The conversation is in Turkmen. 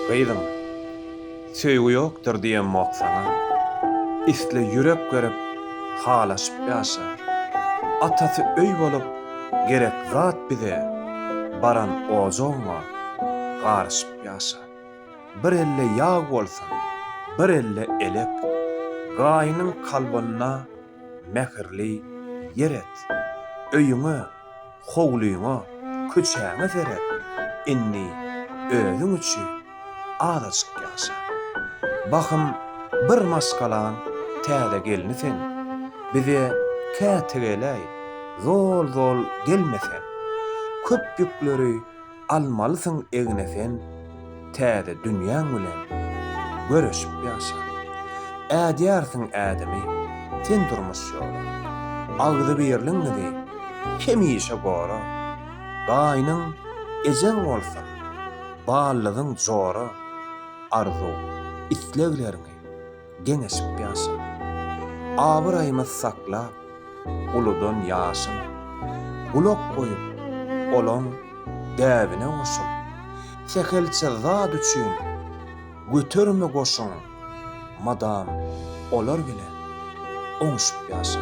Gyzym, söýgi ýokdur diýemok saňa. Isle ýürek berip, halaşyp ýaşa. Atasy öý bolup, gerek zat bize, baran ojagyňa garyşyp ýaşa. Bir elde ýag bolsun, bir elde elek. Gaýynyň kalbynda. mähirli ýer et. Öýüňe, howlyňa, köçäňe seret. Indi özüň üçin azajyk ýaşa. Bahym bir maşgalaň täze gelni sen. Bize käte geläý, zol-zol gelme sen. Köp ýükleri Almalysyň egne sen Täze dünýäň bilen Göreşip ýaşa. Ädýärsiň ädimi Sen durmuş ýola. Agzybirligiňizi Hemişe gora. Gaýnyň ejeň bolsun Ballygyň jora. Arzuw islegleriňi. geňeşip ýaşa. Abyraýymyz saklap, uludan ýaşyn. Gulak goýup, olaň däbine goşul. Sähelçe zat üçin göterme goşun, madam olar bilen oňuşyp ýaşa.